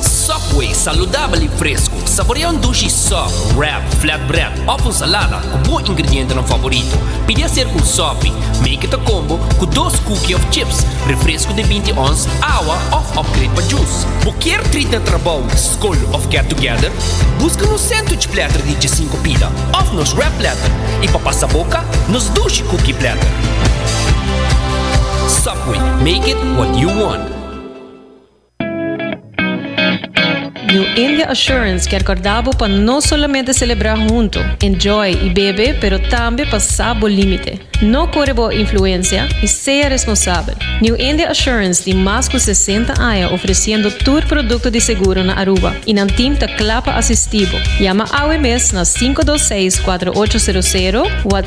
Subway, saludabel i fresku. Saborea un dushi sub, wrap, flatbread òf un salada ku bo ingredientenan favorito. Pidi aserka un sopi, make it a combo, ku dos kuki òf chips, refresku di binti ons, awa òf upgrade pa jus. Bo kier trit na trabou, skol òf get together? Buska nos sandwich platter di djesinku pida òf nos wrap platter, i pa pasa boka, nos dushi kuki platter. Subway, make it what you want. New India Assurance kier corda bo pa no solamente celebra hunto, enjoy y bebe pero tambe pa sa bo limite. No core bo influencia y sea responsabel. New India Assurance tin mas cu sesenta aña ofreciendo tur producto di seguro na Aruba y nan team ta cla pa asisti bo. Yama awe mes na sinku dos seis kuatro ocho sero sero, wha.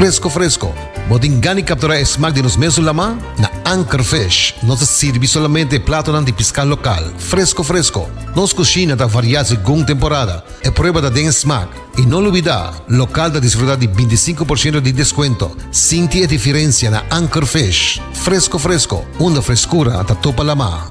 Fresco fresco! Bo tin gani captura e smaak di nos mesun lamá? Na Anchor Fish nos ta sirbi solamente e platonan di piscá local, fresco fresco! Nos cushina ta variá segun temporada, e prueba ta den e smaak. I no lubidá, local ta disfrutá di binti i sinku por ciento di descuento! Sinti e difirencia na Anchor Fish! Fresco fresco! Unda frescura ta topa lamá.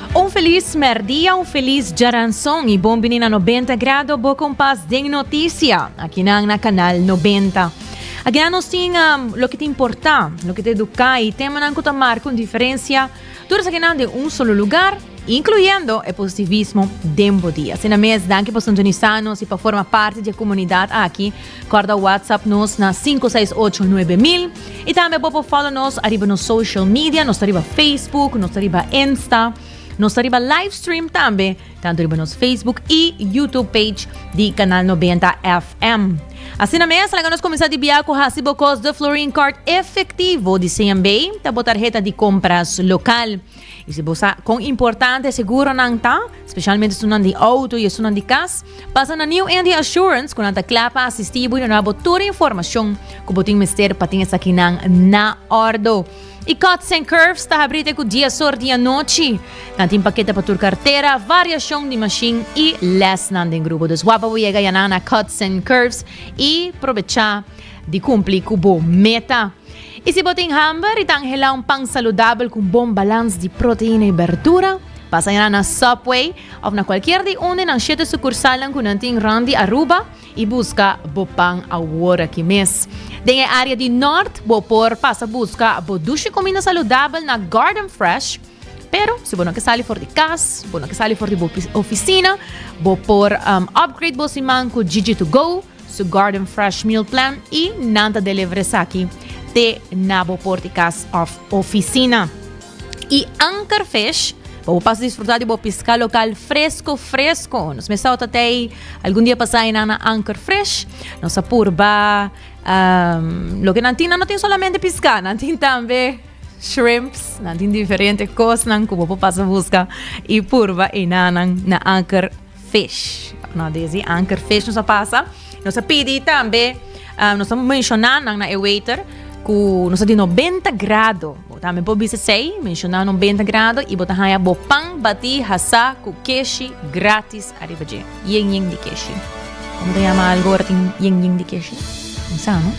Un felis mèrdia, un felis djaranson i bon bini na Nobenta Grado, bo kompas den notisia aki nan na Kanal Nobenta. Akinan nos tin loke ta importá, loke ta eduká i temanan ku ta marka un diferensia, tur esakinan den un solo lugar, inkluyendo e positivismo den bo dia. Asina mes, danki pa sintonisá nos i pa forma parti di e komunidat aki. Corda WhatsApp nos na sinku seis ocho nuebe mil. Y tambe bo por follow nos ariba nos social media, nos ta riba Facebook, nos ta riba Insta, nos ta riba livestream tambe, tanto riba nos Facebook y YouTube page di Canal 90 FM. Asina mes, laga nos cuminsa di bia cu haci bo cos de Florin Card Efectivo di CMB, ta bo tarheta di compras local. Y si bo sa con importante seguronan ta, specialmente esunnan di auto y esunnan di cas, pasa na New India Assurance cu nan ta cla pa asistibo y donabo tur informacion cu bo tin mester pa tin esakinan na ordo. Y Cuts and Curves ta habrite cu dies or di anochi. Nan tin pakete pa tur cartera, variacion di machine y lesnan den grupo. Dus wap pa bo yega ya nan na Cuts and Curves y probecha di cumpli cu bo meta. I si bo tin hamber i ta anhelá un pan saludabel ku un bon balans di proteina i berdura, pasa ya na Subway òf na kualkier di un di nan shete sukursalnan ku nan tin rònt di Aruba i buska bo pan awor aki mes. Den e área di nòrt bo por pasa buska bo dushi kuminda saludabel na Garden Fresh, pero si bo no ke sali for di kas, bo no ke sali for di bo ofisina, bo por upgrade bo siman ku Jiji To Go, Su garden fresh meal plan y nan ta deliver esaki te na bo por di cas of oficina. Y Anchor Fish pa bo pas disfruta di bo pisca local fresco fresco. Nos mes tau ta tei algun dia pasa y nan na Anchor Fresh. Nos a purba um, lo que nan tin nan no tin solamente pisca, nan tin tambe shrimps, nan tin diferente cosnan cu bo por pasa busca y purba y nan nan na Anchor fish. Nau des di anker fish nos a pasa. Nos a pidi tambe, ah, nos a menshona nan na e waiter ku nos a di nobenta grado. Bo tambe por bisa esei, menshona nobenta grado i bo ta haña bo pan batí hasá ku keshi gratis ariba dje. Yen yen di keshi. Komo ta yama algu ora tin yen yen di keshi? Bo sa, no?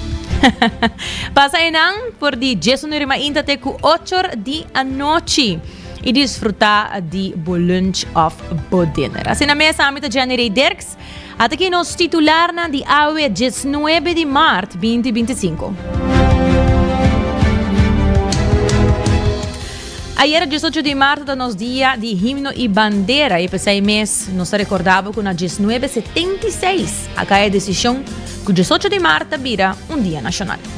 Pasa enan for di diesunuer i mainta te ku ochor di anochi. y disfruta di bo lunch of bo dinner. Así na mes ami ta Jenny Rey Dirks. Ata ki nos titularnan di awe 19 di maart 2025. Ayer 18 di marzo ta nos dia di himno i bandera e pesai mes nos ta recordabo cu na 1976 a cae decision cu 18 di marzo ta bira un dia nacional.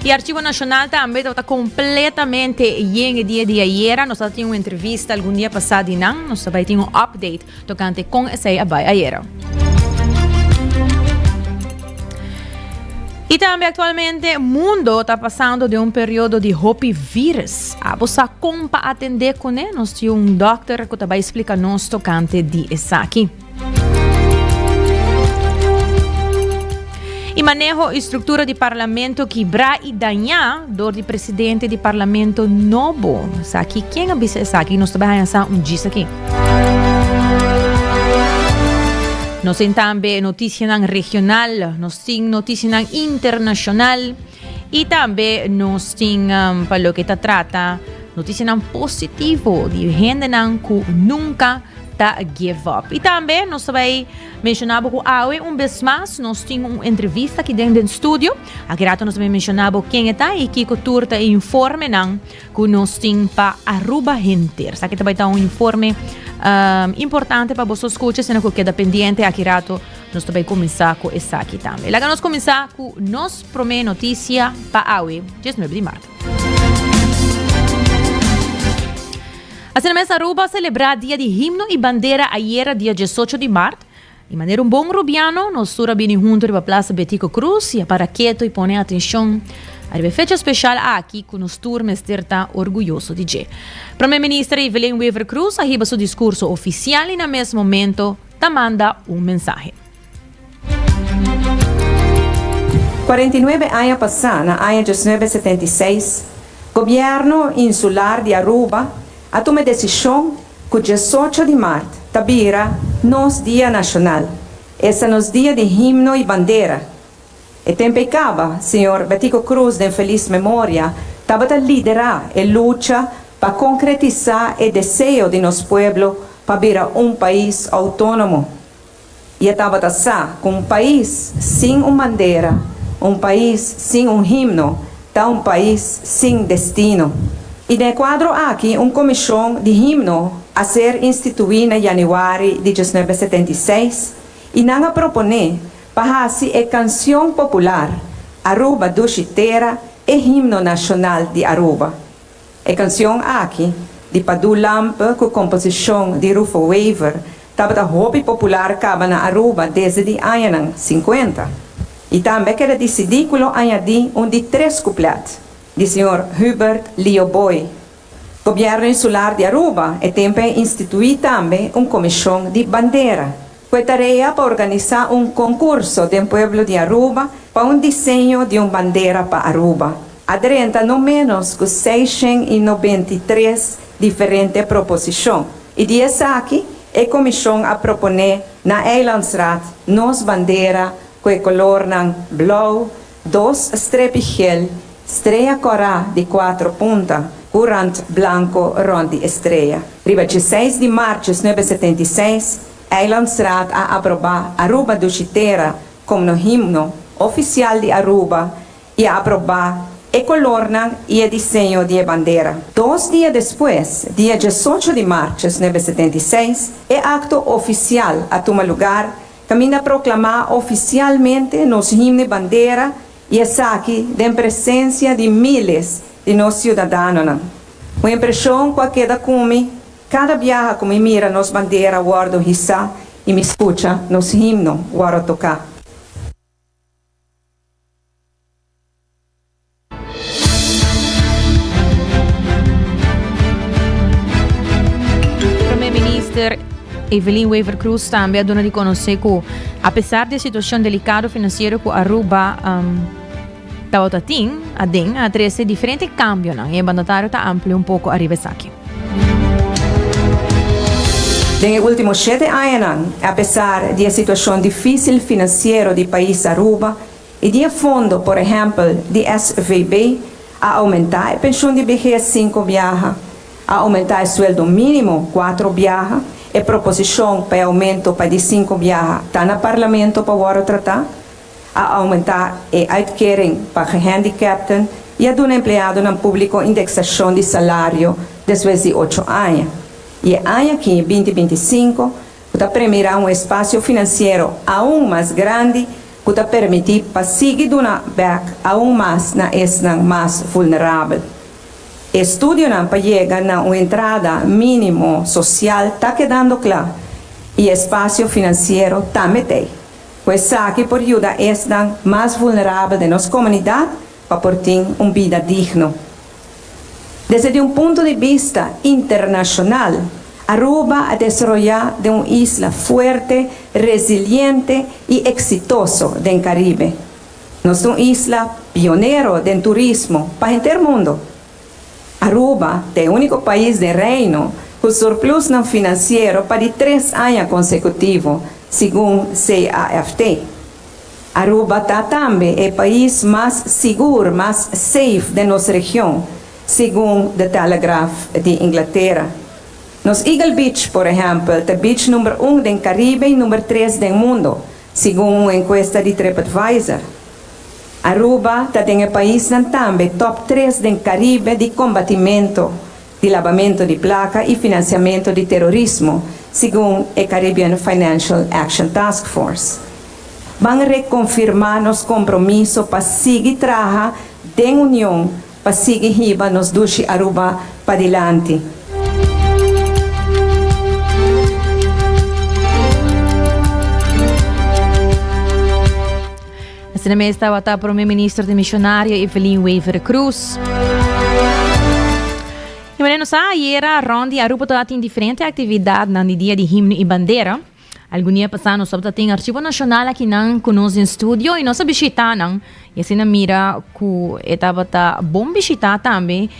E Archivo Nacional tambe tabata completamente yen e dia di ayera. Nos tin un entrevista algun dia pasá di nan. Nos tabay tin un update tocante con esey a bay ayera. Y tambe actualmente mundo ta pasando de un periodo di hopi virus. Abo sa con pa atende cune? Nos tin un dokter cu ta bay explica nos tocante di esaki. Y maneho y structura di parlamento kibrá y dañá door di presidente di parlamento nobo. Saki, ken a bisa esaki? Nos ta bai haña sa un djis aki. Nos tin tambe noticianan regional, nos tin noticianan internacional y tambe nos tin um, pa lo que ta trata noticianan positivo di hendenan cu nunca ta give up. Y tambe nos ta bay menciona bo cu awe un bes mas nos tin un entrevista ki den den studio. Aki rato nos ta bay menciona bo ken e ta y kiko tur ta e informe nan cu nos tin pa Aruba henter. Sa ki ta bay ta un informe um, importante pa boso scucha, asina cu keda pendiente aki rato nos ta bay cuminsa cu esaki tambe. Laga nos cuminsa cu nos prome noticia pa awe, 19 di marzo. Asina mes Aruba a celebra dia di himno y bandera ayera dia diesocho di mart. Y manera un bon Rubiano, nos tur a bini hunto riba Plaza Betico Cruz y a para keto y pone atencion ariba e fecha special aki cu nos tur mester ta orguyoso di dje. Prome Minister Evelyn Wever-Croes a hiba su discurso oficial y na mes momento ta manda un mensahe. Cuarenta y nuebe aña pasá, na aña diosnuebe setenta y seis, Gobierno Insular di Aruba a tuma e desishon ku diesocho di mart ta bira nos dia nashonal, esa nos dia di himno i bandera. E tempu ei kaba, señor Betico Cruz den felis memoria tabata liderá e lucha pa konkretisá e deseo di nos pueblo pa bira un pais outónomo. i e tabata sa ku un pais sin un bandera, un pais sin un himno, ta un pais sin destino. I den e kuadro aki un komishon di himno a ser instituí na yanüari di diesnuebe setenta i seis i nan a proponé pa hasi e kansion popular Aruba Dushi Tera e himno nashonal di Aruba. E canción aki, di Padu Lamp cu composicion di Rufo Wever, tabata hopi popular caba na Aruba desde di añanan cincuenta y tambe a keda dicidi cu lo añadi un di tres couplet di señor Hubert Lio Booi. Gobierno Insular di Aruba e tempo a institui tambe un comision di bandera Fue tarea pa organisa un concurso den pueblo di Aruba pa un diseño di un bandera pa Aruba. A drenta no menos cu seishen y nobenta y tres diferente proposicion y di esaki e comision a propone na Eilandsraad nos bandera cu e colornan blauw, Dos strepi gel strea cora di cuatro punta cu rand blanco rond di e strea. Riba dje seis di marches nuebe setenta i seis, Eilandsraad a aproba Aruba Dushitera como himno oficial di Aruba y a aproba e colornan y e diseño di e bandera. Dos dia despues, dia diesocho di marches nuebe setenta i seis, e acto oficial a tuma lugar Caminda proclamá oficialmente nos himno y bandera y esaki den presencia di miles di nos ciudadanonan. Un impresion cu a keda cu mi cada biaha cu mi mira nos bandera wordo hisa y mi scucha nos himno wordo tocá. Prome Minister Evelyn Wever-Croes tambe a duna di conoce cu apesar di e situacion delicado financiero cu Aruba um, tabata tin, aden a trece diferente cambionan y e mandatario ta amplio un poco arriba esaki. Den e ultimo shete añanan, apesar di e situacion dificil financiero di pais Aruba, I di e fondo, por ehèmpel, di SVB, a oumentá e penshun di behes sinku biaha, a oumentá e sueldo mínimo kuater biaha, e proposishon pa e oumento pa di sinku biaha ta na parlamento pa wòrdu tratá, a oumentá e uitkering pa gehandicapten i a duna empleadonan públiko indeksashon di salario despues di ocho aña. I e aña aki, binti binti i sinku, ku ta premirá un espasio finansiero aun mas grandi, cu ta permiti pa sigui duna bek aun mas na esnan mas vulnerabel. E estudionan pa yega na un entrada minimo social ta kedando cla y e espacio financiero tambe t'ey, cu esaki por yuda esnan mas vulnerabel den nos comunidad pa por tin un bida digno. Desde un punto di bista internashonal, Aruba a desaroyá den un isla fuerte, resiliente i eksitoso den Karibe. Nos ta un isla pionero den turismo pa henter mundo. Aruba ta e úniko pais den Reino ku surplusnan finansiero pa di tres aña konsekutivo, segun CAFT. Aruba ta tambe e pais mas sigur, mas safe, den nos region, segun The Telegraph di Inglatera. Nos Eagle Beach, por ehèmpel, ta beach number un den Karibe i number tres den mundo, segun un enkuesta di TripAdvisor. Aruba ta den e paisnan tambe top tres den Karibe di kombatimentu, di labamento di plaka i finansiamento di terorismo, segun e Caribbean Financial Action Task Force. Ban rekonfirmá nos kompromiso pa sigui traha den union pa sigui hiba nos dushi Aruba padilanti. Asina mes tabata Prome Minister di Misionario Evelyn Wever Croes. I mane nos sa ayera rond di Aruba tabata tin diferente actividadnan di Dia di Himno i Bandera. Algun dia pasá nos tabata tin Archivo Nacional akinan cu nos den studio i nos a bishita nan. I asina mira cu e tabata bon bishita tambe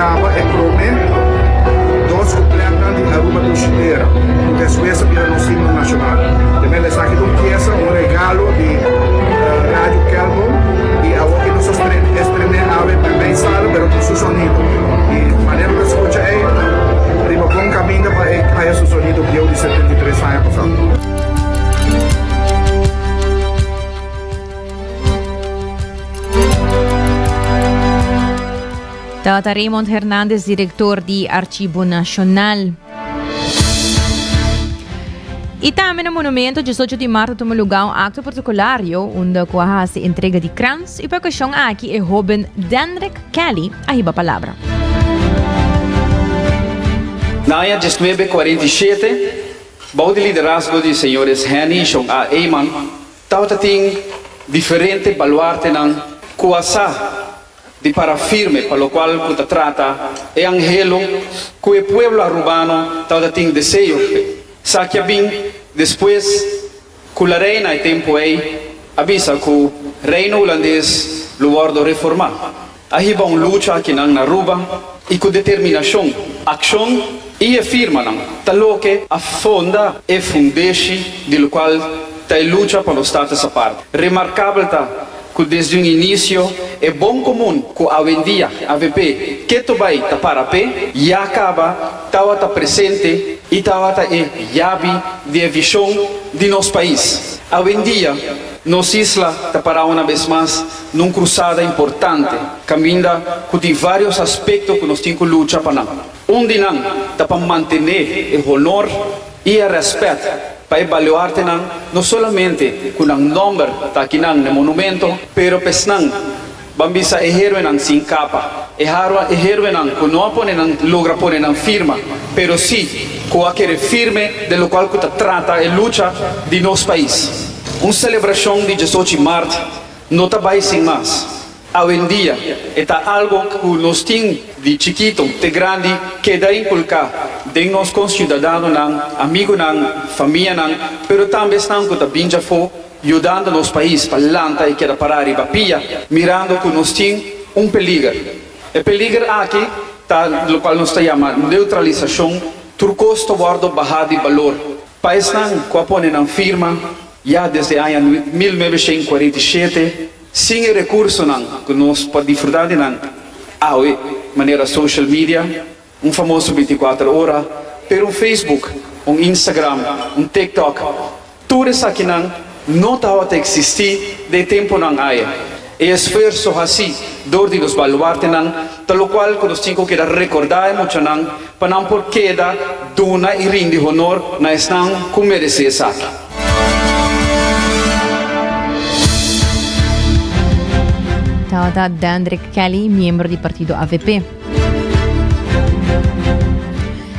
Taba e prome dos kuplètnan di Aruba Tushitera, ku despues a bira nos himno nashonal. Temel esaki ta un piesa, un regalo di Radio Kelkom i awor ke nos a strene es promé ave ta na e sala pero ku su sonido. I manera ku ta skucha ei riba bon kaminda pa ei haya su sonido bieu di setenta i tres aña pasá. Tabata Raymond Hernandez, director di Archibo Nacional. Y tambe na Monumento, 18 di marzo tuma lugar un acto protocolario unda cu a haci entrega di krans. Y pa ocasion aki e hoben Denrick Kelly a hiba palabra. Na aña diesnuebe kuarenta i shete, bou di liderazgo di señores Henny i Shon A. Eyman, tabata tin diferente baluartenan ku a sa di para firme pa lokual ku ta trata e anhelu ku e pueblo Arubano tabata tin deseo. Esaki a bin despues ku La Reina e tempu ei a bisa ku Reino Hulandes lo wòrdu reformá. A hiba un lucha aki nan na Aruba i ku determinashon, akshon i e firmanan ta loke a fonda e fundeshi di lokual ta e lucha pa nos Status Apart. Remarkabel ta. Cu desde un inicio e bon comun cu awendia avp keto bay ta para pe ya caba tawata presente y tawata e yabi di e vision di nos pais. Awendia nos isla ta para una bes mas n'un crusada importante caminda cu tin varios aspecto cu nos tin cu lucha pa nan. Un di nan ta pa mantené e honor i e rèspèt pa e baluartenan no solamente ku nan nòmber ta akinan n'e monumento, pero p'esnan ban bisa e héroenan sin kapa, e haro e héroenan ku no a pone nan logra pone nan firma, pero sí ku a kere firme den lokual ku ta trata e lucha di nos pais. Un selebrashon di diesochi mart no ta bai sin mas, Awendia e ta algo cu nos tin di chikito te grandi keda inculcá den nos conciudadanonan, amigunan, famianan, pero tambe esnan cu ta bindi afó yudando nos pais pa lanta i keda pará riba pia mirando cu nos tin un peliger. E peliger aki ta locual nos ta yama neutralisacion, tur cos ta wordo bahá di balor. Pa esnan cu a pone nan firma ya desde aña mil novecientos cuarenta i shete, Sin e rekursonan ku nos por disfrutá di nan awe, manera social media, un famoso bintikuater ora, pero un Facebook, un Instagram, un TikTok, tur esakinan no tabata eksistí den e tempunan aya. E esfuerso hasi dor di nos baluartenan Ta locual cu nos tin cu keda recorda e muchanan pa nan por keda duna y rindi honor na esnan cu merece esaki. Tabata Dendrick Kelly, miembro di partido avp.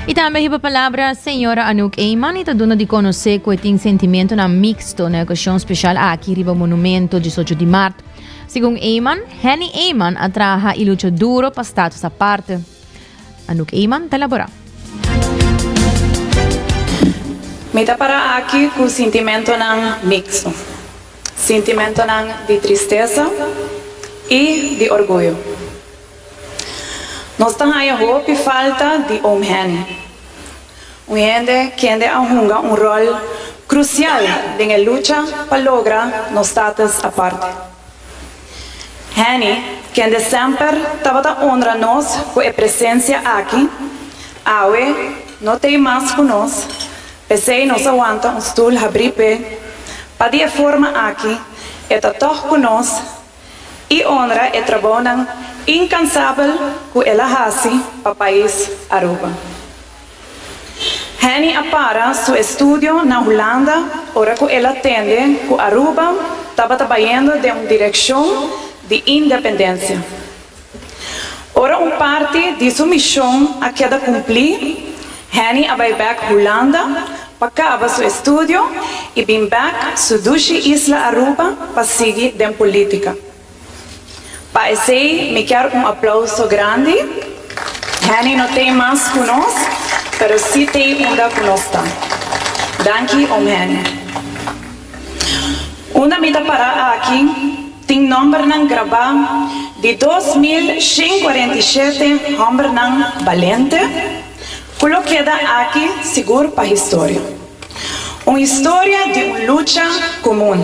Y tambe hiba palabra Señora Anouk Eman y ta duna di conoce cu e tin sentimentonan mixto na ocasion special aki riba Monumento disocho di Maart. Segun Eyman, Henny Eyman a traha i lucha duro pa status aparte. Anouk Eyman ta labora. Mi ta para aki cu sintimentonan mixto. Sintimentonan di tristeza y di orguyo. Nos ta haña hopi falta di oom Hen, un hende kende a hunga un ròl krusial den e lucha pa logra nos status aparte. Henny, kende semper tabata onra nos ku e presensia aki, awe no t'ei mas ku nos, p'esei nos a wanta un stul habrí p'e, pa di e forma aki e ta tòg ku nos, i honra e trabaonan inkansabel ku el a hasi pa pais Aruba. Henny a para su estudio na Hulanda ora ku el a tende ku Aruba tabata bayendo den un direkshon di independensia. Ora un parti di su mishon a keda kumplí, Henny a bai bèk Hulanda pa kaba su estudio i bin bèk su dushi isla Aruba pa sigui den polítika. Pa esei mi kier un aplauso grandi. Henny no t'ei mas ku nos, pero si t'ei unda ku nos ta. Danki oom Henny. Unda mi ta pará aki? Tin nòmbernan grabá di dos mil shen kuarenta i shete hòmbernan balente ku lo keda aki sigur pa historia. Un historia di un lucha komun.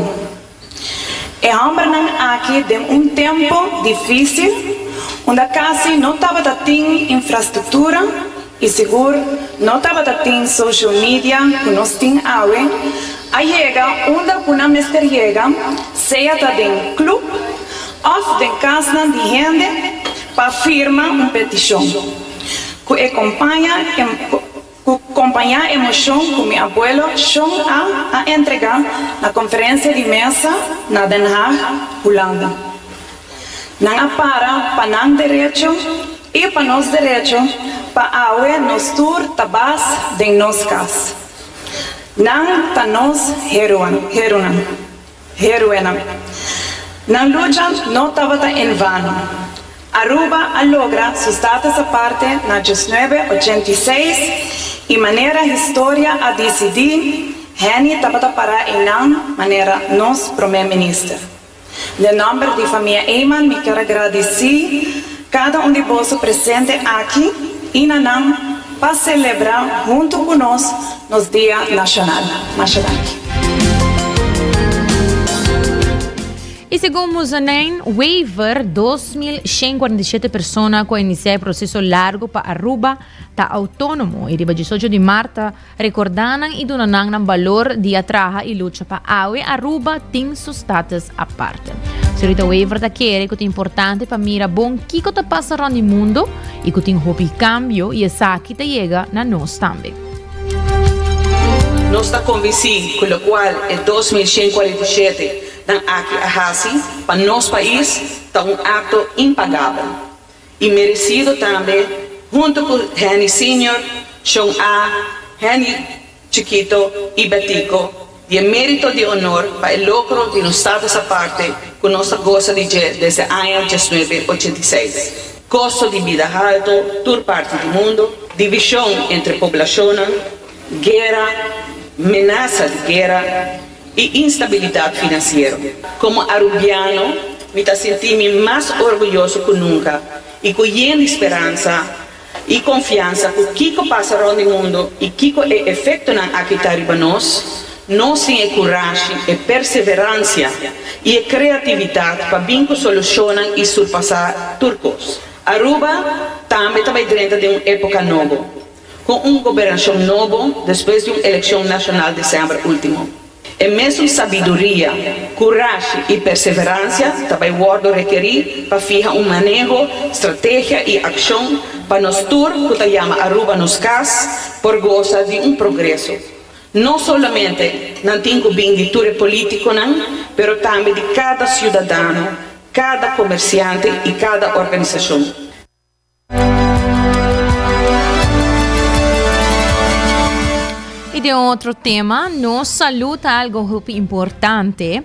E hòmbernan aki den un tempu difísil unda kasi no tabata tin infrastruktura, I sigur no tabata tin social media ku nos tin awe, a yega unda ku nan mester yega, sea ta den klub òf den kasnan di hende pa firma un petishon. Ku e kompaña ku kompañá e moshon ku mi abuelo Shon A. a entregá na konferensia di mesa na Den Haag, Hulanda. Nan a para pa nan derecho i pa nos derecho pa awe nos tur ta bas den nos kas. Nan ta nos heroenan. Nan lucha no tabata en vano. Aruba a logra su status aparte na diosnuebe ochenta i seis i manera historia a disidí, Henny tabata para einan manera nos promé minister. Den nòmber di famia Eman mi ker a gradisí kada un di boso presente aki i na nan pa selebrá huntu ku nos nos Dia Nashonal. Masha danki. I segun Muzonain Wever, dos mil shen kuarenta i shete persona ku a inisiá e proseso largu pa Aruba ta outónomo i riba diesocho di Mart ta Recordá nan y duna nan nan balor di a traha y lucha pa awe Aruba tin su status aparte. Señorita Wever ta kere cu ta importante pa mira bon kico ta pasa rond di mundo y cu tin hopi cambio y esaki ta yega na nos tambe. Nos ta convenci cu locual e dos mil shen cuarenta y shete nan aki a haci pa nos pais ta un acto impagabel. y merecido tambe hunto cu Henny Senior, Sean A. Henny Chikito y Betico di e merito di honor pa e logro di nos status aparte cu nos ta goza di dje desde aña diesnuebe ochenta i seis. Costo di bida halto tur parti di mundo, division entre poblacionnan, guera, menasa di guera, i instabilidat finansiero. Komo arubiano, mi ta sinti mi mas orguyoso ku nunka i ku yen di speransa i konfiansa ku kiko pasa rònt di mundu i kiko e efektonan aki ta riba nos, nos tin e kurashi, e perseveransia i e kreatividat pa bin ku solushonnan i surpasá tur kos. Aruba tambe ta bai drenta den un époka nobo. con un gobernacion nobo despues di un eleccion nacional december ultimo. E mesun sabiduria, curashi y perseverancia ta bay wordo rekeri pa fiha un maneho, strategia y accion pa nos tur cu ta yama Aruba nos cas por gosa di un progreso no solamente nan tin cu bin di tur e politiconan pero tambe di cada ciudadano, cada comerciante y cada organisacion. Y den un otro tema, nos salud ta algo hopi importante,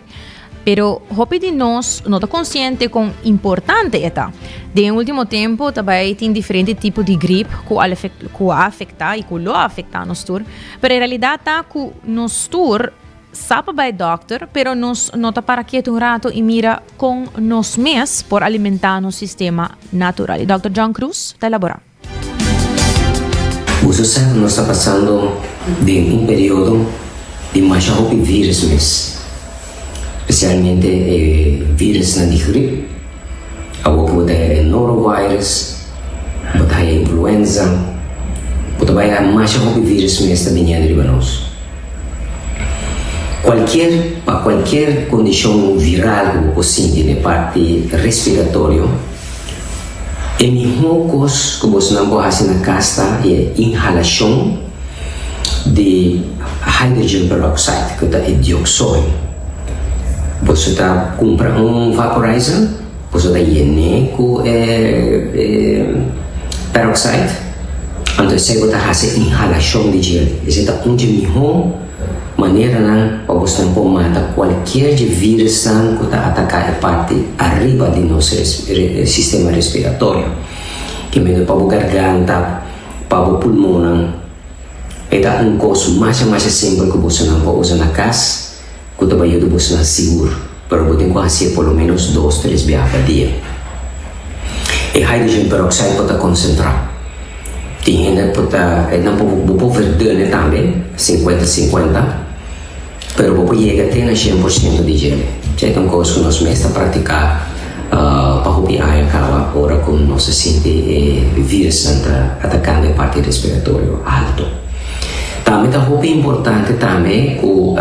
pero hopi di nos no ta consciente con importante e ta. Den ultimo tempo ta bay tin diferente tipo di grip cu al cu a afecta y cu lo afecta nos tur, pero e realidad ta cu nos tur Sa pa bai dòkter, pero nos no ta para ketu un rato i mira kon nos mes por alimentá nos sistema natural. I dòkter John Cruz ta elaborá. Boso sa ku nos ta pasando den un periodo di masha hopi vírus mes, spesialmente e vírusnan di grip. Awor cu bo ta haya norovirus, bo ta haya influenza, bo ta bay haya masha hopi virus mes ta bini andi riba nos. Cualkier, pa cualkier condicion viral cu bo por sinti n'e parti respiratorio, e miho cos cu bosnan por haci na cas ta e inhalacion di hydrogen peroxide, cu ta e dioxoyo. Por su ta cumpra un vaporizer por su ta yene cu e peroxide anto esey bo ta haci inhalacion di dje esey ta un dje miho maneranan pa bo snan por mata cualkier dje virusnan cu ta ataca e parti ariba di nos sistema respiratorio kimedo pa bo garganta pa bo pulmonnan. E ta un kos masha masha simpel ku bosonan por usa na kas ku ta bayuda bosonan sigur, pero bo tin ku hasi e por lo ménos dos tres biaha pa dia. E hydrogen peroxide por ta konsentrá. Tin hende ku ta bo por ver dune tambe, sinkuenta sinkuenta. Pero bo por yega te na shen por siento di dje. Dje ta un cos cu nos mes ta practica pa hopi aña caba ora cu nos a sinti e virussen ta atacando e parti respiratorio alto. Tambe ta hopi importante tambe cu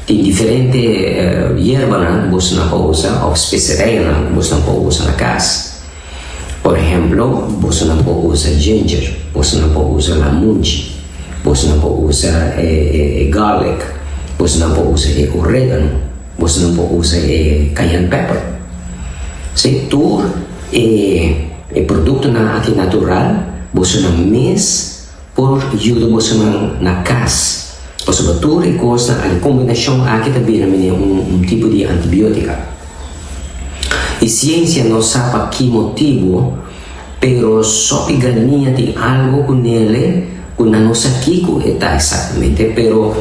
tin diferente yerbanan cu boso nan por usa of specerijnan cu boso nan por usa na cas. Por ehemplo, boso no por usa ginger, boso no por usa lamunchi, boso no por usa e e e garlic, boso no por usa e oregano, boso no por usa e cayenne pepper. Si tur e e productonan aki natural boso na mes Por yuda bo seman na cas. Pasobra tur e cosnan aki, combinacion aki ta bira mene un tipo di antibiotica. E ciencia no sa pa ki motibo, pero sopi galnia tin algo cu nele cu nan no sa kico e ta exactamente, pero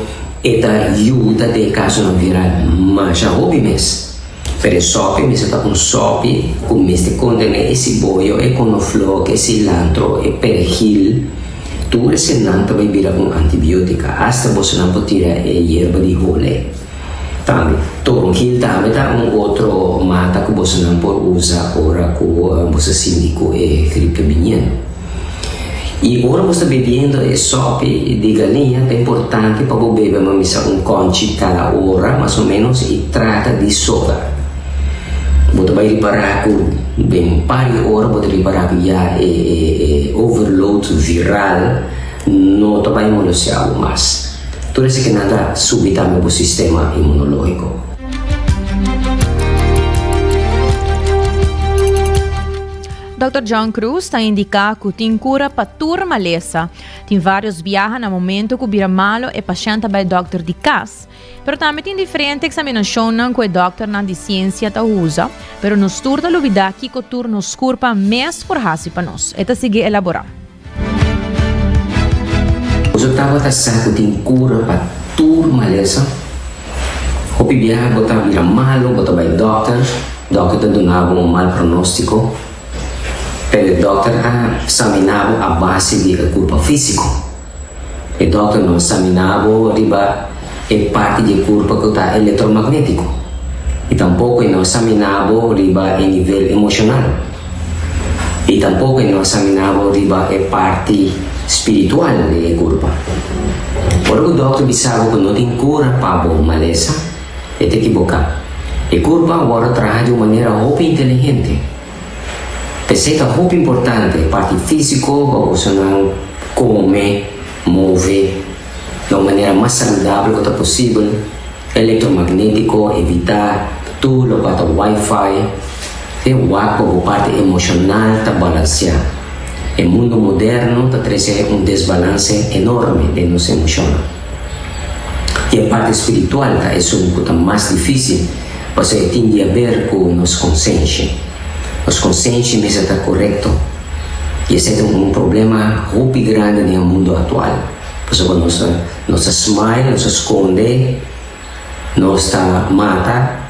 e ta yuda den e casonan viral masha hopi mes. Pero e sopi mester ta un sopi cu mester contené e ciboyo, e conoflok, e cilantro, e perejil. Tur esenan ta bay bira con antibiotica. Hasta bosonan por tira e yerba di hole. Tambe, toronjil tambe ta un otro mata cu bosonan por uza ora cu boso sinti cu e grip ta biniendo. I ora bo sta bebiendo e sopi di galiña ta importante pa bo bebe mamisa un konchi kala ora mas o menos i trata di soda. Bo ta bai ripará ku den un par di ora bo ta ripará ku ya e, e, e overload viral no ta bai molosia bo mas. Tur esaki nan ta subi tambe bo sistema inmunológiko. Dòkter John Cruz ta indiká ku tin kura pa tur malesa. Tin vários biaha na momentu ku bira malu e pashènt ta bai dòkter di kas. Pero tambe tin diferente eksaminashonnan ku e dòkternan di siensia ta usa. Pero nos tur ta lubidá kiko tur nos kurpa mes por hasi pa nos, e ta sigui elaborá. Nos a tabata sa cu tin cura pa tur malesa. Hopi biaha bo ta bira malu, bo ta bay dokter, dokter ta duna bo un mal pronostico. Pero e dokter a examina bo a base di e curpa fisico. E dòkternan saminá bo riba e parti di e kurpa ku ta elektromagnétiko i tampoko e no a saminá bo riba e nivel emoshonal i tampoko e no a saminá bo riba e parti spiritual den e kurpa. Ora ku dòkter bisa bo ku no tin kura pa bo malesa, e ta ekiboká. E kurpa a wòrdu traha di un manera hopi inteligente. P'esei ta hopi importante e parti físiko pa boso nan kome, move, na un manera mas saludabel ku ta posibel, elektromagnétiko, evitá tur lokua ta wifi, e wak pa bo parti emoshonal ta balansiá. E mundu moderno ta trese un desbalanse enorme den nos emoshonnan. I e parti spiritual ta esun ku ta mas difísil, pasobra e tin di haber ku nos konsenshi. Nos konsenshi mester ta korekto, i esei ta un problema hopi grandi den e mundu aktual, pasobra nos ta nos ta smile, nos ta skonde nos ta mata,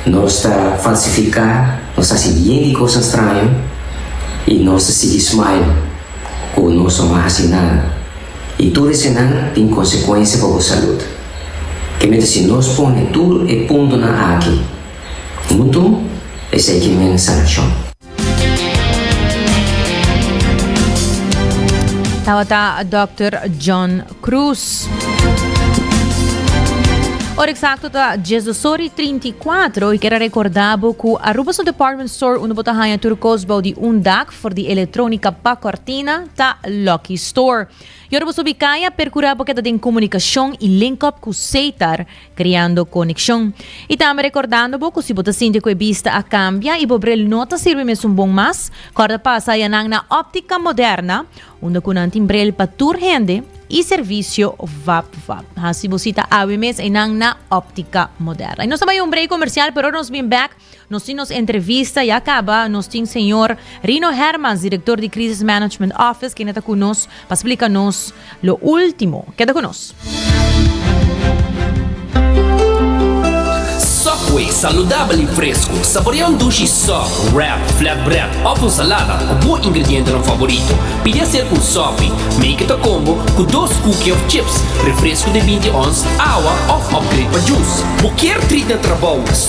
nos ta falsifiká, nos ta hasi bien di kos straño i nos ta sigui smile ku nos no a hasi nada. I tur esenan tin konsekuensia pa bo salud. Ke mester si nos pone tur e puntonan aki huntu, esei ke men sanashon. Tabata Dòkter John Cruz. Ora eksakto ta dies dos ora i trinta i kuatro i kier a rekordá bo ku Aruba su department store unda bo ta haña tur kos bou di un dak for di elektrónika pa kòrtina ta Lucky Store. I ora bo so bikaya perkurá bo keda den komunikashon i link up ku Seitar. creando conexion y tambe recordando bo cu si bo ta sinti cu e bista a cambia y bo bril no ta sirbi mesun bon mas, corda pasa aya nan na Optica Moderna unda cu nan tin bril pa tur hende y servicio vap vap. Haci bo cita awe mes eynan na Optica Moderna. Y nos ta bay un break comercial pero nos bin back Nos tin nos entrevista ya caba, nos tin señor Rino Hermans, director di Crisis Management Office kende ta cu nos pa splica nos lo ultimo. Keda cu nos. Subway, saludabel y fresco. Saborea un dushi sub, wrap, flatbread of un salada cu bo ingredientenan favorito. Pidi a ser cu un subie, make it a combo, cu dos cookie of chips, refresco di binti ons, awa of upgrade pa juice. Bo kier treat na trabou?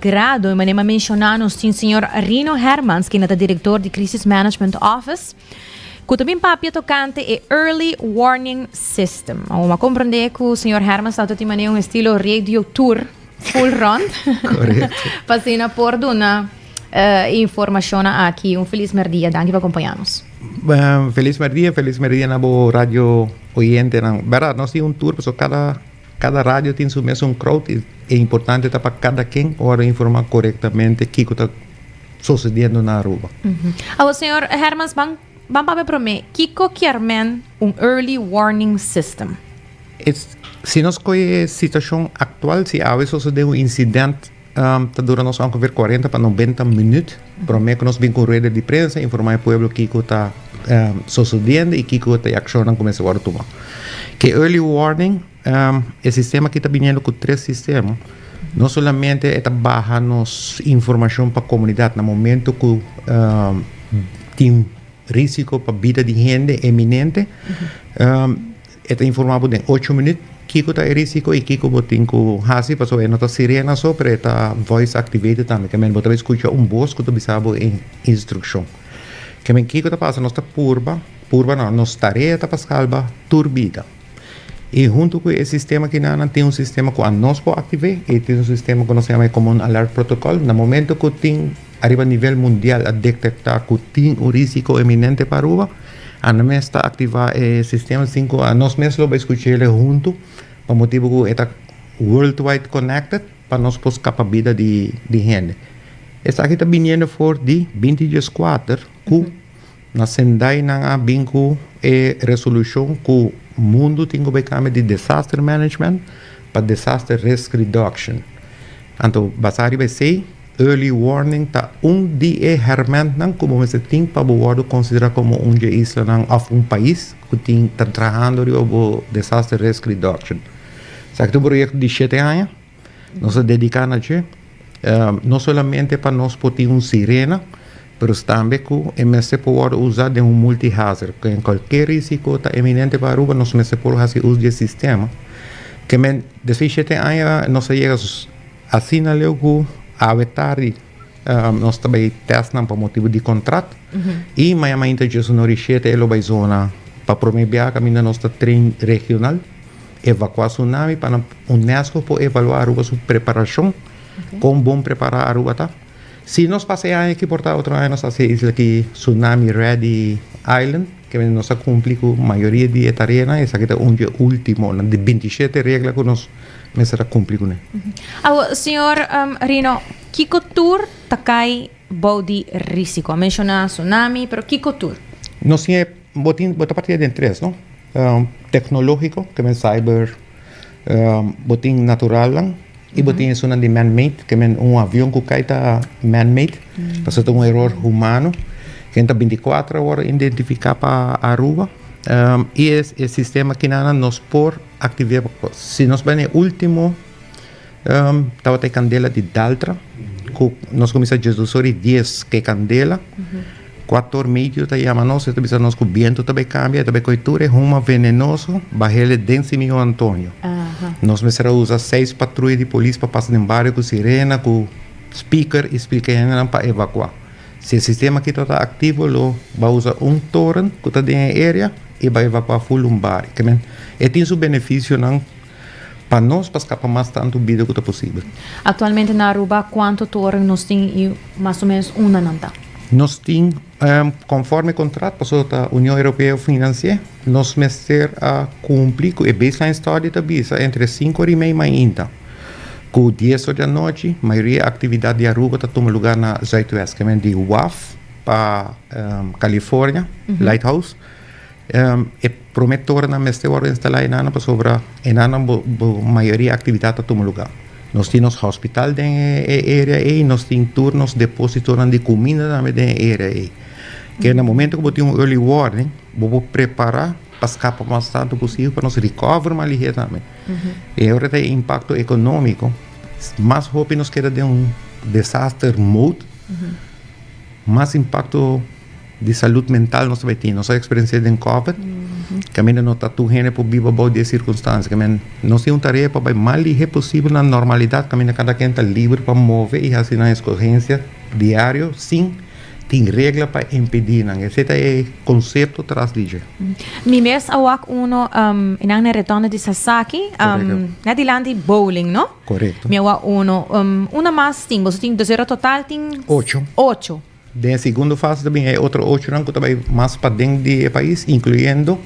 Grado e manera m'a menshoná nos tin señor Rino Hermans kende ta direktor di Crisis Management Office ku ta bin papia tokante e Early Warning System. Awor m'a komprendé ku señor Hermans ta tin manera un estilo radio tour full rond pa asina por duna e informashonnan aki. Un felis merdia. Danki pa kompañá nos. Felis merdia, felis merdia na bo radio oyentenan. Bèrdad, nos tin un tour pasobra kada. Kada radio tin su mesun crowd y e importante ta pa kada ken ora informa corectamente kico ta sosediendo na Aruba. Awor señor Hermans ban ban papia prome kico kier men un early warning system? Si nos coye e situacion actual si awe sosode un incident. Ta dura nos ongeveer cuarenta pa noventa minuut prome cu nos bin cu un rueda di prensa informa e pueblo kico ta sosodiendo y kico ta e accionnan cu mester worde tuma. Cu e early warning e sistema aki ta biniendo cu tres sistema, no solamente e ta baha nos informacion pa comunidad na momento cu tin risico pa bida di hende eminente, E ta informa bo den ocho minut kiko ta e risiko y kiko bo tin cu haci pasobra e no ta sirena so pero e ta voice activated tambe ke men bo ta bay scucha un voz cu ta bisa bo e instruccion. Ke men kiko ta pasa nos ta purba, purba no nos tarea ta pa salba tur bida y hunto cu e sistema kina nan tin un sistema cu anos por active y tin un sistema cu nos yama e common alert protocol na momento cu tin. Ariba nivel mundial a detektá ku tin un rísiko eminente pa Aruba. Anda mes ta aktivá e sistema sin ku nos mes lo bai skuch'é el huntu pa motibu ku e ta worldwide connected pa nos por skapa bida di hende. Esaki ta biniendo for di binti dieskuater ku. Na Sendai nan a bin cu e resolucion cu mundu tin cu bay cambia di disaster management pa disaster risk reduction. Anto basa riba esey, early warning ta un di e hermentnan cu bo mester tin pa bo wordo considera como un dje islanan of un pais cu tin ta trahando riba bo disaster risk reduction. Sa aki ta un proyecto di shete aña. Nos a dediká na dje, no solamente pa nos por tin un sirena, pero tambe ku e mester por wòrdu usá den un multihazard, ku en kualke risiko ta eminente pa Aruba nos mester por hasi us di e sistema. Kemen desishete aña nos a yega asina leu ku awe tardi nos ta bai tèstnan pa motibu di kontrakt i mañamainta dje su no rishete e lo bai zona. Pa promé biaha kaminda nos ta tren regional Evakua Sunami pa nan UNESCO por evaluá Aruba su preparashon, kon bon prepará Aruba ta. Si nos pasa e aña aki por ta otro aña nos hasi e isla aki Sunami Ready Island, kende nos a kumpli ku mayoria di e tareanan, esaki ta un di e últimonan di binti i shete regla ku nos mester a kumpli ku nan. Awo, señor Rino, kiko tur ta kai bou di rísiko? A menshoná Sunami, pero kiko tur? Nos tin e. Bo tin bo ta partia den tres no teknologiko ke men cyber bo tin naturalan i bo tin esunnan di man made ke men un avion ku kai ta man made pasobra ta un eror humano ken ta binticuatro ora identifika pa Aruba i e sistema kinan nos por aktiveer si nos bai na e ultimo Tabata e kandela di daltra ku nos kuminsá Jesus ora i dies ku e kandela. Ku ator Matthew ta yama nos, e ta bisa nos ku bientu ta bai kambia, e ta bai koi tur e huma venenoso bahele den Simeon Antonio. Nos mester a usa seis patruya di polis pa pasa den bario ku sirena, ku speaker i splika e hendenan pa evakuá. Si e sistema akí tabata aktivo lo ba usa un toren ku ta den e area i ba evakuá ful un bario. E tin su benefisionan. Pa nos pa skapa mas tantu bida ku ta posibel. Aktualmente na Aruba kuantu toren nos tin i mas o menos unda nan ta? Nos tin, konforme kontrat, pasobra ta Union Europeo finansié, nos mester a kumpli ku e baseline study ta bisa entre sinku ora i mei mainta ku dies ora di anochi mayoria aktividat di Aruba ta tuma lugar na Zuidwest, ke men di Waf pa California, Lighthouse. E prome torenan mester wordo instalá enan pasobra enan bo mayoria actividad ta tuma lugar. Nos tin nos hospital den e area ey, nos tin tur nos depositonan di cuminda tambe den e area ey. Ke na momento cu bo tin un early warning bo por prepara pa scapa mas tanto posibel pa nos recover mas liher tambe. Y ora ta e impacto economico mas hopi nos keda den un desaster mode mas impacto. di salud mental nos ta bai tin. Nos a experiencia den COVID, que a no ta tu hende por biba bou di e circunstancia. Que nos tin un tarea pa bai mas lihé posible na normalidad, que cada quien ta libre pa move y haci nan escogencia diario sin tin regla pa impedi nan. Esei ta e concepto tras di dje. Mi mes a wak uno, nan na e retondo di Sasaki, na dilanti bowling, no? Correcto. Mi a wak uno. Una mas tin, boso tin, dus ora total tin? Ocho. Ocho. Den e segundo fase ta bin e otro ochonan ku ta bai mas paden di e pais, inkluyendo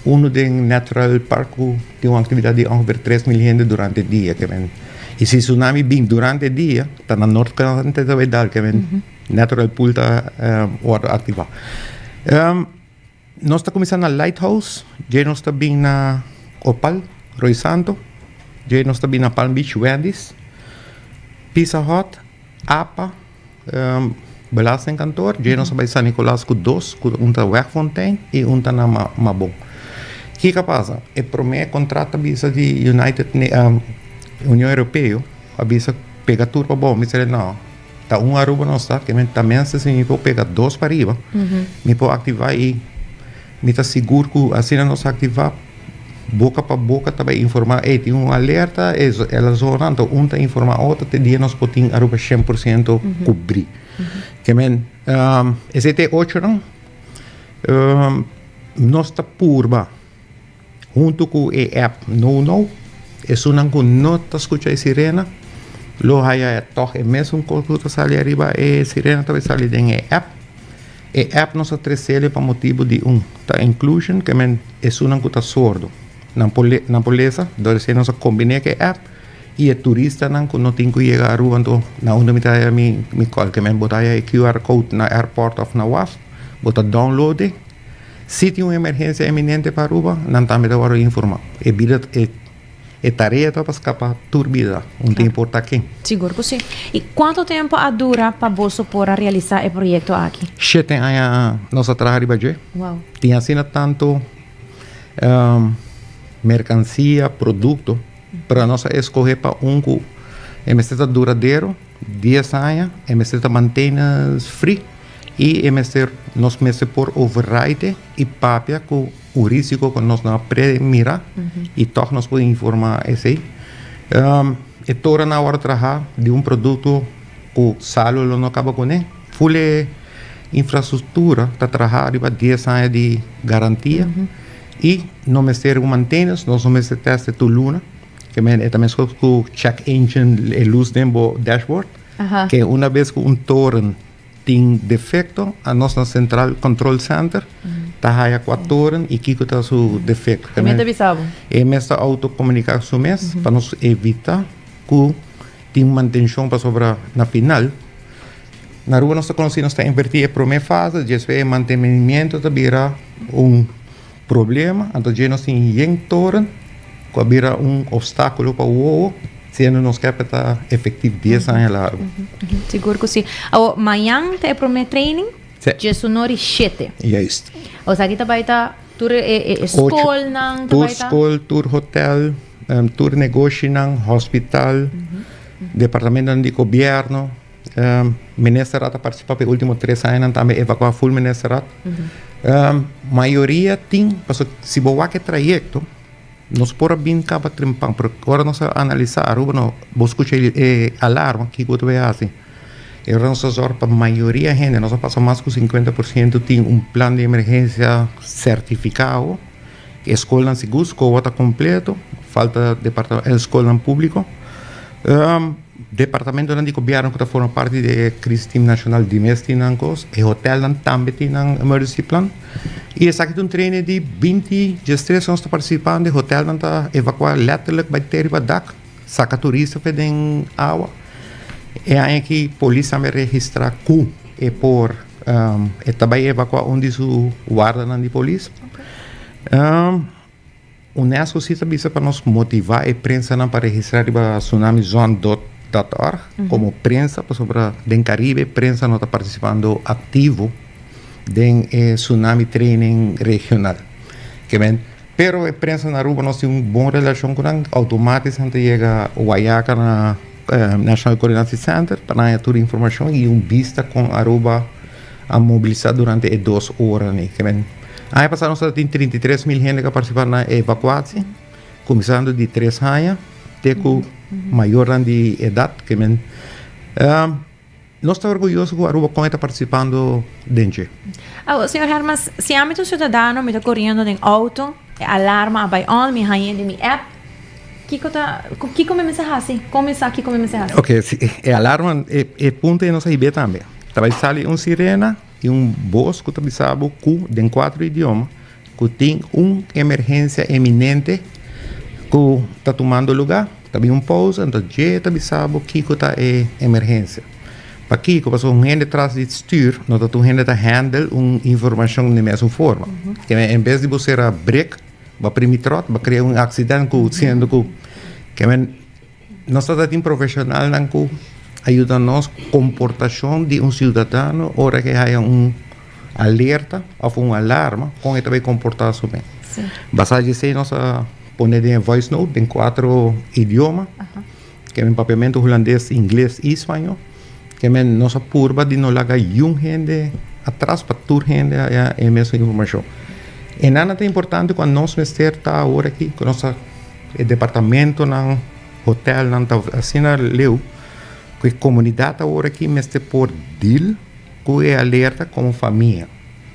unu den Natural Park ku tin un aktividat di ongeveer tres mil hende durante dia kemen. I si tsunami bin durante dia, ta na norte ta bai dal kemen Natural Pool ta wòrdu aktivá. Nos ta kuminsá na Lighthouse, dje nos ta bin na Opal, Roi Santo, dje nos ta bin na Palm Beach, Wendy's, Pizza Hut, Apa, Belastingkantoor, dje nos a bai San Nicolas ku dos, ku un ta Wegfontein i un ta na Mabon. Kiko a pasa? E promé kontrakt a bisa di United Union Europeo a bisa pega tur pa boso, mi ser, no. Ta un Aruba nos ta, ke men ta mense si mi por pega dos pa riba, mi por aktivá i mi ta sigur ku asina nos aktivá boka pa boka ta bai informá, ey tin un alerta e zonan, ento un ta informá otro te dia nos por tin Aruba shen por siento kubrí. Ke men esei te ochonan nos ta purba. Huntu ku e app Nou Nou, esunnan ku no ta skucha e sirena lo haya e tòg. E mesun kos ku ta sali ariba e sirena ta por sali den e app. E app nos a tresele pa motibu di un ta inclusion, ke men esunnan ku ta sordu nan por nan por lesa, dor esei nos a kombiné ku e app i e turistanan ku no tin ku yega Aruba. Anto na unda mi ta haya mi mi kòl? Ke men bo ta haya e QR code na airport òf na waf, bo ta download'e. Si tin un emergensia eminente pa Aruba, nan tambe ta wòrdu informá. E bida, e tarea ta pa skapá tur bida, un ta importá ken. Sigur ku si. I kuantu tempu a dura pa boso por a realisá e proyekto aki? Shete aña nos a traha riba dje. Wou. Tin asina tantu merkansia, produkto, pero nos a eskohé pa un ku e mester ta duradero. Dies aña e mester ta mantenas fri y e mester nos mester por override y papia cu un risico cu nos no a pre mira y toch nos por informa esey. E tora nan awor a traha di un producto cu salu lo no caba cune. Full e infrastructura ta traha riba dies aña di garantia y no mester un mantenas, nos no mester teste tur luna. Kemey, e ta mes kos ku check engine, e lus den bo dashboard. Aha. Ke una bes ku un toren tin defekto, a nos na sentral control center ta haya kua toren i kiko ta su defekto. E mes ta bisa bo? E mes ta autokomunika ku su mes pa nos evitá ku tin mantenshon pasobra na final, na Aruba nos ta konosí nos ta invertí e promé fase, djespues e mantenimiento ta bira un. Problema, anto dje nos tin yen toren ku a bira un opstákulo pa wowo, siendo nos kèp e ta efektivo dies aña largu. Sigur ku si. Awor, mañan ta e promé training. Sí. Dje su nor i shete. Juist. Esaki ta bai ta tur e, e, e skolnan ta bai ta. Tur skol, tur hotel, tur negoshinan, hospital, departamentunan di gobièrnu. Ministerat a participa pe ultimo tres añanan tambe evacua full ministerat. Uh -huh. uh, mayoria tin, paso si bo wak e trayecto, nos por a bin caba trimpan, pero ora nos a analisa Aruba, no, bo escucha e eh, alarma, kiko te bay hasi. E ora nos a zorg pa mayoria hende, nos a pasa mas cu 50% tin un plan de emergencia certificado, E skolnan sigur skowa ta kompleto, falta departamen e skolnan públiko. Departamentonan di gobièrnu ku ta forma parti di e Krisis Tim Nashonal di mes tin nan kos. E hotèlnan tambe tin nan emergency plan. I esaki ta un treine di binti djèstres anos ta partisipá unda e hotèlnan ta evakuá lèterlik bai te riba dak, saka turista afe den awa. E aña aki polis tambe a registrá ku e por. E ta bai evakua un di su wardanan di polis. UNESCO si ta bisa pa nos motivá e prensanan pa registrá riba Tsunami Zone dot org komo prensa pasobra den Karibe prensa no ta partisipando aktivo den e tsunami training regional. Pero e prensa na Aruba nos tin un bon relashon ku nan, outomatis nan ta yega Wayaca na National Coordination Center pa nan haña tur informashon i un bista kon Aruba a mobilisá durante e dos ora ni. Aña pasá nos a tin trinta i tres mil hende ku a partisipá na e evakuashi, kuminsando di tres haña te ku mayornan di edat. Nos ta orguyoso ku Aruba Kònje ta partisipando den dje. Awo, señor Hermans, si ami ta un siudadano, mi ta koriendo den outo, e alarma a bai on, mi hañ'e den mi app, kiko ta, kiko mi mester hasi? Kon mi sa kiko mi mester hasi? Oke, si e alarma, e punto ei nos a hib'é tambe. Ta bai sali un sirena. Tin un bos ku ta bisa bo ku den kuater idioma ku tin un emergensia eminente ku ta tumando lugá. Ta bin un pousa, entos dje ta bisa bo kiko ta e emergensia. Pakiko? Pasobra un hende tras di stür no ta tur hende ta handel un informashon den mesun forma. Keme en bes di bo sera brek, bo a primi tròt, bo a krea un aksident ku siendo ku keme. Nos ta ta tin profesionalnan ku a yuda nos komportashon di un siudadano ora ku e haya un alerta òf un alarma, kon e ta bay komportá su mes. Basá di esei nos a pone den e voice note den kuatro idioma, ku papia mento hulandes, ingles i spañó. Ke men nos a purba di no laga yun hende atras pa tur hende haya e mes informashon. E nan a ta importante ku a nos mester ta awor aki ku nos ta e departamentonan, hotelnan ta asina leu ku e komunidat awor aki mester por dil ku e alerta komo famia.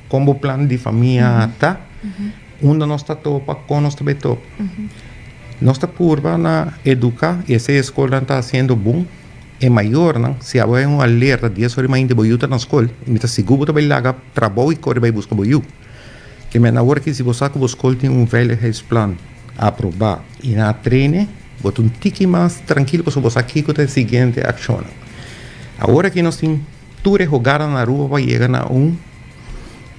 Kon bo plan di famia a ta, unda nos ta topa, kon nos ta bai topa. Nos ta purba na eduka, i esei e skolnan ta hasiendo bon, E mayornan, si abo hay un alerta dies ora y mainti bo yu ta na scol, y mi ta sigur bo ta bay laga trabou y cori bay busca bo yu. Te menda awor aki si bo sa cu bo scol tin un veiligheidsplan aproba y na traine, bo ta un tiki mas trankilo pasobra bo sa kico ta e siguiente accionnan. Awor aki nos tin tur e hogarnan na Aruba pa yega na un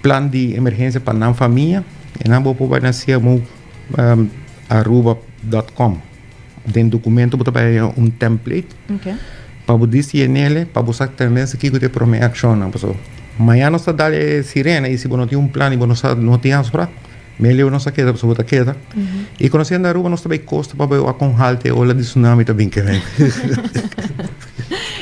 plan di emergencia pa nan famia y nan bo por bay na siamuaruba.com. Den documento bo ta bay haya un template. Okay. Pa bo di si e nele, pa bo sa también si kiko te prome accionnan. Paso mañana nos ta dal e sirena y si bo no tin un plan y bo no sa, no tin afra, mele bo no sa keda, paso bo ta keda. Mm -hmm. Y conociendo Aruba nos ta bay costa pa bay con halte ola di tsunami ta bin keda.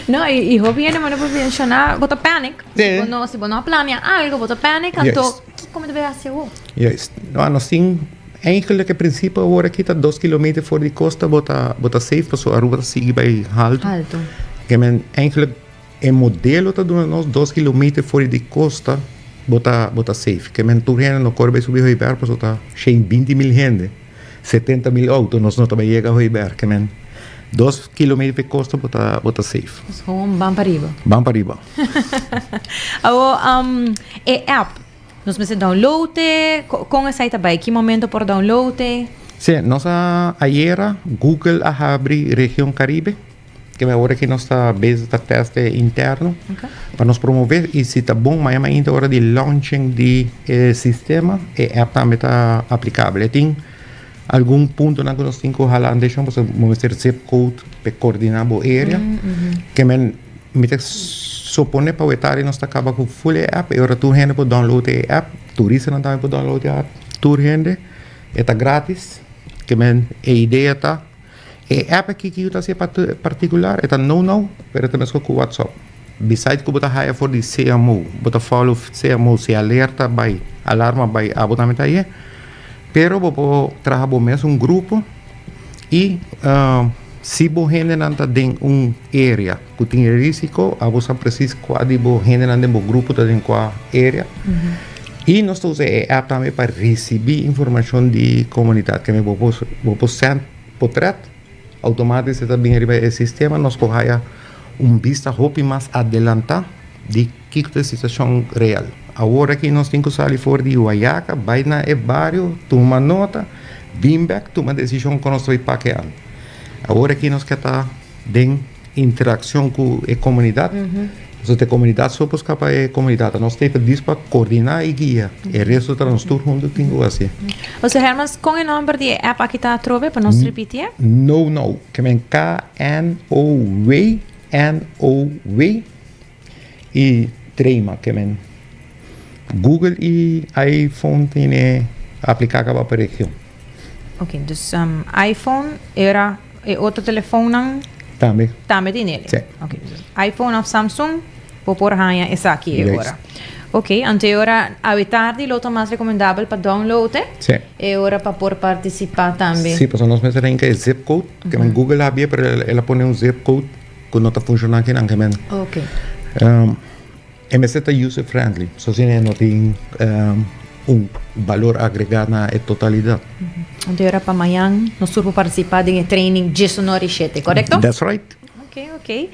No, y, y hopi gente manda por mencionar, bota panic. Sí. Si bo no, si bo no planea algo, bota panic, anto yes. Kiko mi ta bira hasi awo? Juist. Nau, nos tin eigenlijk e principe awor aki ta dos kilometer for di costa bo ta, bo ta safe paso Aruba ta sigui bai halto. Halto. Ke men eigenlijk e modelo ta duna nos dos kilometer for di costa bo ta, bo ta safe. Ke men tur hende no kore bai subi Hoiberg paso ta shei binti mil hende. Setenta mil auto nos no ta bai yega hoy Berke men. Dos kilometer pe costa bo ta bo ta safe. Nos gewoon ban pa riba. Ban pa riba. Awo um e app nos mester download e con esai ta bai ki momento por download e? Sí, nos a ayera Google a habri Region Caribe. Kende ora aki nos ta bezig ta test e interno pa nos promove i si ta bon mayormente ainda ora di launching di e sistema e app tambe ta aplikabel e tin algun puntonan ku nos tin ku hala atenshon pasobra bo mester zip code pa e koordiná bo area ke men mi ta supone pa weta ari nos ta kaba ku full e app e ora tur hende por download e app turistanan tambe por download e app tur hende e ta gratis ke men e idea ta. E app aki ki yu ta hasié partikular e ta nou nou pero e ta meskor ku WhatsApp. Bisaid ku bo ta haya for di CMO, bo ta follow CMO si alerta bai, alarma bai abo tambe ta ayé. Pero bo por traha bo mes un grupo i si bo hendenan ta den un area, Ku tin e risiko, abo sa presis kua di bo hendenan den bo grupo ta den kua area. I nos ta usa e app tambe pa risibí informashon di komunidat. Kende bo por bo por sènt potrèt, outomatis e ta bini riba e sistema. Nos por haya un bista hopi mas adelantá di kiko ta e situashon real. Awor aki nos tin ku sali for di Juayaca, bai na e bario, tuma nota, bin bèk, tuma desishon kon nos ta bai pakeá. Awor aki nos ke ta den. Interakshon ku e komunidat. Nos e komunidat so por skapa e komunidat a nos tin ta dis pa koordiná i guia. E resto ta nos tur huntu tin ku hasi. José Hermans, kon e nòmber di e app aki ta atrobe pa nos repitié? Know Now. Kemen KNOW, N-O-W. Y trema que men. Google y iPhone tine aplica caba pa region. Ok, dus um, iPhone era e otro telefoonnan Tambe. tambe tin ele. Sí. Ok, dus iPhone of Samsung bo por haya esaki e Juist. ora. Ok, ante e ora awe tardi lo ta mas recomendabel pa download e. Sí. E ora pa por participa tambe. Sí, pasobra nos mester hinca e zip code, que men Google a habia, pero el, el a pone un zip code. cu no ta funciona aki nan gemen. Okay. Um, e mester ta user friendly, so sin e no tin um, un valor agregado na e totalidad. Mm -hmm. Anto era pa mañan nos turbo participa den e training Jesu no rishete, correcto? That's right. Okay, okay.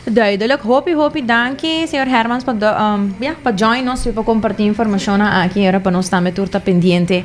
Duidelijk. Hopi, hopi danki, señor Hermans, pa, um, yeah, pa join nos, pa compartir informacion aki, era pa nos tambe tur ta pendiente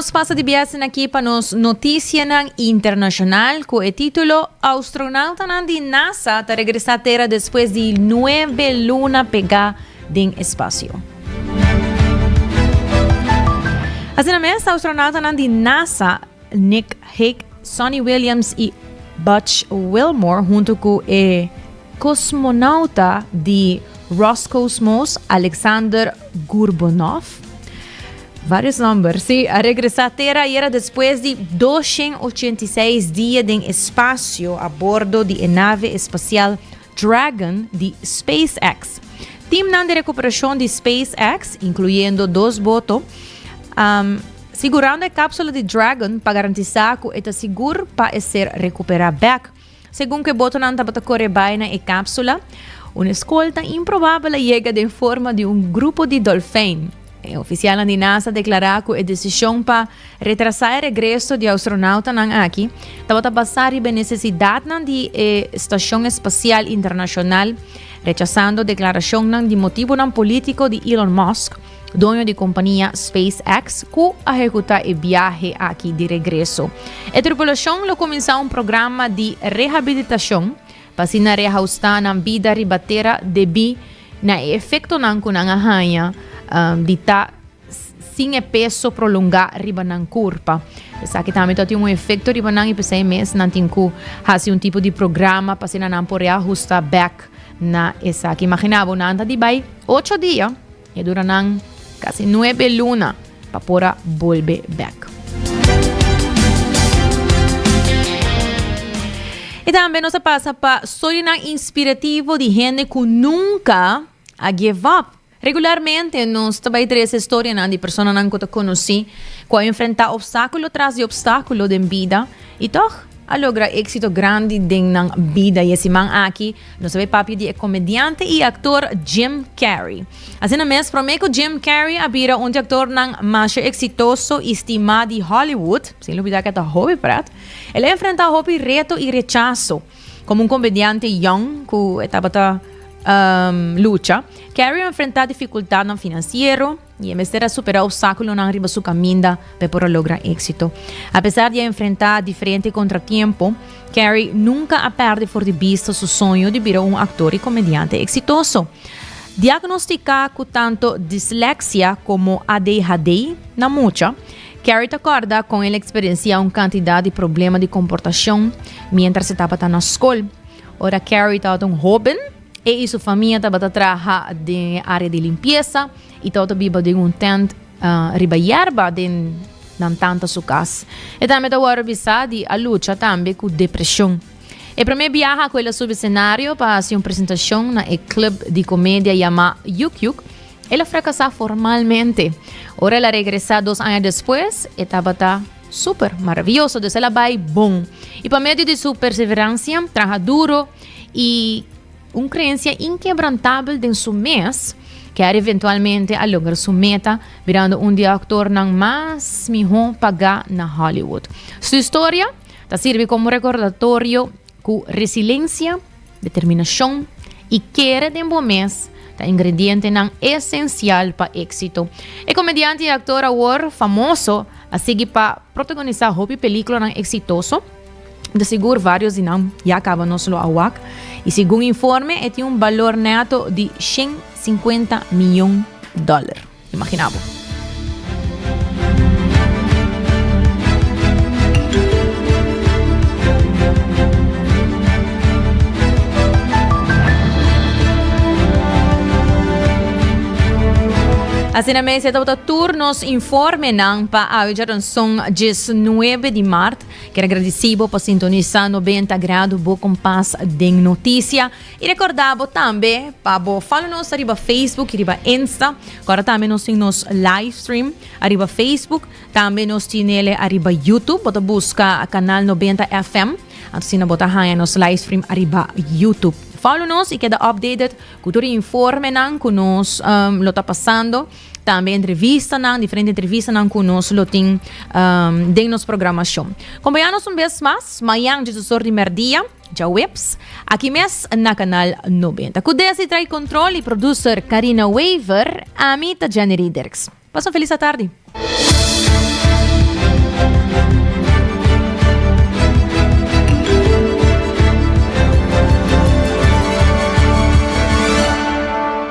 nos pasa di biasen aki pa nos notisianan internacional cu e titulo Astronautanan di NASA ta regresa tera despues di nuebe luna pega den espacio. Asina mes, astronautanan di NASA Nick Hake, Sonny Williams y Butch Wilmore hunto cu e cosmonauta di Roscosmos, Alexander Gurbunov, varios nomber, si, a regresa Tera ayera despues di dos shen ochenta y seis dia den espacio a bordo di e nave espacial Dragon di SpaceX. Teamnan di recuperashon di SpaceX, incluyendo dos boto, sigurando e capsula di Dragon pa garantisa cu e ta sigur pa e ser recupera bek. Segun cu e botonan tabata core bay na e capsula, un escolta improbabel a yega den forma di un grupo di dolfijn. E ofisialnan di NASA deklará ku e desishon pa retrasá e regreso di astronautanan aki tabata basá riba e nesesidatnan di e Stashon Espasial Internashonal, rechasando deklarashonnan di motibunan polítiko di Elon Musk, doño di kompania SpaceX, ku a ehekutá e biahe aki di regreso. E tripulashon lo kuminsá un programa di rehabilitashon pa asina rehaustá nan bida riba tera debí Na e efectonan cu nan a haña di ta sin e peso prolongá riba nan curpa. Esaki tambe ta tin un efecto riba nan y p'esei mes nan tin cu haci un tipo di programa pa asina nan por reajusta back na esaki. Imagina bo, nan ta di bai ocho dia y e dura nan casi nuebe luna. Pa por a bolbe bek. I tambe nos a pasa pa storianan inspirativo di hende ku nunka a give up. Regularmente nos ta bai trese storianan di personanan ku ta konosí ku a enfrentá opstákulo tras di opstákulo den bida i tòg a logra éksito grandi den nan bida. I e siman aki Nos a bay papia di e comediante y actor Jim Carrey. Asina mes, prome cu Jim Carrey a bira un di actornan masha exitoso y stima di Hollywood, sin lubida cu e ta hopi pret, el a enfrenta hopi reto y rechazo. Como un comediante jong cu e tabata lucha, Carrey a enfrenta dificultadnan financiero, I e mester a superá opsákulonan riba su kaminda pa e por a logra éksito. Apesar di a enfrentá diferente kontratiempo, Carrie nunka a pèrdè for di bista su soño di bira un aktor i komediante eksitoso. Diagnostiká ku tanto disleksia komo ADHD na mucha, Carrie ta kòrda kon el a eksperensiá un kantidat di problema di komportashon miéntras e tabata na skol. Ora Carrie tabata un hóben, E i su famia tabata traha den e área di limpiesa i tabata biba den un tènt riba yerba den nan tanta su kas. E tambe ta wòrdu bisá di a lucha tambe ku depreshon. E promé biaha ku el a subi senario pa hasi un presentashon na e klub di komedia yamá Yuk Yuk, el a frakasá formalmente. Ora el a regresá dos aña despues, e tabata súper maravioso, dus el a bai bon. I pa medio di su perseveransia, traha duro, y un creencia inquebrantabel den su mes, que a eventualmente a logra su meta, birando un di actornan mas miho paga na Hollywood. Su historia ta sirbi como recordatorio cu resiliencia, determinacion y kere den bo mes ta ingredientenan esencial pa éxito. E comediante y actor awor famoso a sigui pa protagonisa hopi peliculanan exitoso, De sigur varios di nan ya caba nos lo awak y segun informe e tin un balor neto di shen cincuenta miyon dollar. Imagina bo. Asina mes e tabata tur nos informenan pa awe djaranson djis nuebe di mart. Quier agradeci bo pa sintonisa noventa grado bo compas den noticia y recorda bo tambe pa bo follow nos ariba Facebook y riba Insta cora tambe nos tin nos live stream ariba Facebook tambe nos tinele ariba YouTube bo ta busca canal noventa FM asina bo ta haya nos live stream ariba YouTube follow nos y keda updated cu tur informe nan cu nos um, lo ta pasando. tambe entrevistanan, diferente entrevistanan ku nos lo tin um, den nos programacion. Kompañanos un bes mas, mayan Jesus Sor di Merdia, ja Weps, aki mes na kanal 90. Ku desi trai kontrol i producer Karina Wever, ami ta Jenny Riederks. Pas un felis atardi.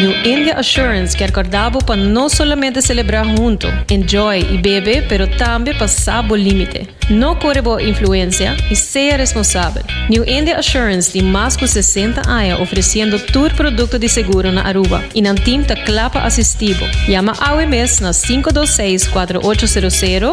New India Assurance kier corda bo pa no solamente celebra hunto, enjoy y bebe pero tambe pa sa bo limite. No core bo influencia y sea responsabel. New India Assurance tin mas cu sesenta aña ofreciendo tur producto di seguro na Aruba y nan team ta cla pa asisti bo. Yama awe mes na sinku dos seis kuatro ocho sero sero.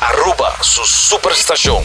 Aruba su super stacion.